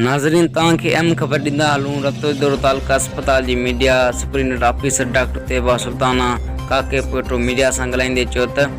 ناظرين توهان کي اهم خبر ڏيندا هلون رتو دورو تعلقه اسپتال جي medical superintendent officer doctor Tayyaba Sultana ڪاڪي پوئٽو ميڊيا سان ڳالهائيندي چيو ته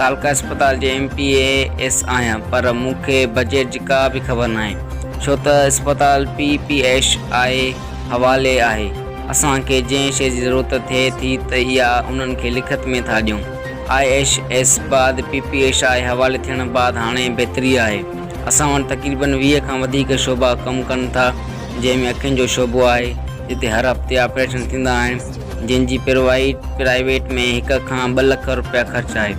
تعلقه اسپتال جي ايم پي اي ايس آهيان پر مون کي بجيٽ جي ڪا به خبر ناهي ڇو ته اسپتال پي پي ايش آء حوالي آهي اسان کي جنهن شيء جي ضرورت ٿئي ٿي ته اها انهن کي لکت ۾ ٿا ڏيون آء ايش ايس بعد پي پي ايش آء حوالي ٿيڻ بعد هاڻي بهتري آهي. اسان وٽ تقريبن ويهه کان وڌيڪ شعبا ڪم ڪن ٿا، جنهن ۾ اکين جو شعبو آهي، جتي هر هفتي آپريشن ٿيندا آهن، جن جي پروائيڊ، پرائيويٽ، ۾ هڪ کان ٻه لک رپيا خرچ آهي.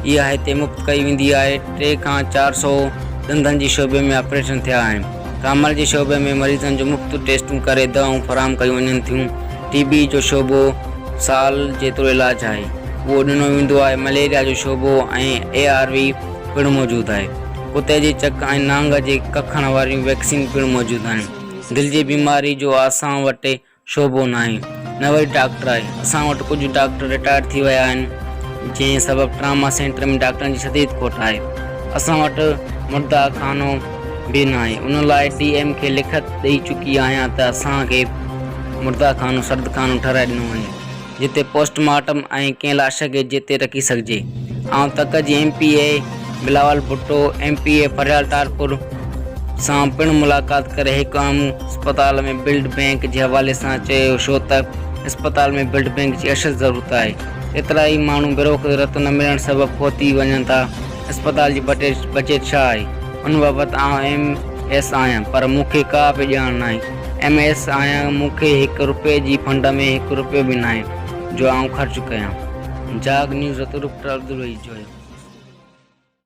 اها هتي مفت ڪئي ويندي آهي. ٽي کان چار سؤ ڏندن جي شعبي ۾ آپريشن ٿيا آهن. ڪامل جي شعبي ۾ مريضن جون مفت ٽيسٽون ڪري دوائون فراهم ڪيون وڃن ٿيون. ٽي بي جو شعبو سال جيترو علاج آهي، اهو ڏنو ويندو آهي. مليريا جو شعبو ۽ اي آر وي. پڻ موجود آهي. ڪتي جي چڪ ۽ نانگ جي ڪکڻ واريون ويڪسين پڻ موجود آهن. دل جي بيماري جو اسان وٽ شعبو ناهي، نه وري ڊاڪٽر آهي. اسان وٽ ڪجهه ڊاڪٽر رٽائرڊ ٿي ويا آهن، جنهن سبب ٽراما سينٽر ۾ ڊاڪٽرن جي شديد کوٽ آهي. اسان وٽ مرده خانو به ناهي، ان لاء ڊي ايم کي لکت ڏئي چڪي آهيان ته اسان کي مرده خانو سرد خانو ٺهرائي ڏنو وڃي. جتي پوسٽ مارٽم ۽ ڪنهن لاش کي جتي رکي سگهجي. آئون تڪ جي M P A Bilawal Bhutto, M P A Faryal Talpur سان پڻ ملاقات ڪري هڪ اهم اسپتال ۾ بلڊ بئنڪ جي حوالي سان چيو ڇو ته اسپتال ۾ بلڊ بئنڪ جي اشد ضرورت آهي ڪيترائي ماڻهو بروقت رت نه ملڻ سبب فوت ٿي وڃن ٿا اسپتال جي بجيٽ ڇا آهي ان بابت آئون ايم ايس آهيان پر مون کي ڪا به ڄاڻ ناهي. ايم ايس آهيان مون کي هڪ رپئي جي فنڊ ۾ هڪ رپيو به ناهي جو آئون خرچ ڪيان جاگ نيوز ترڪ ٽربل وئي جويو.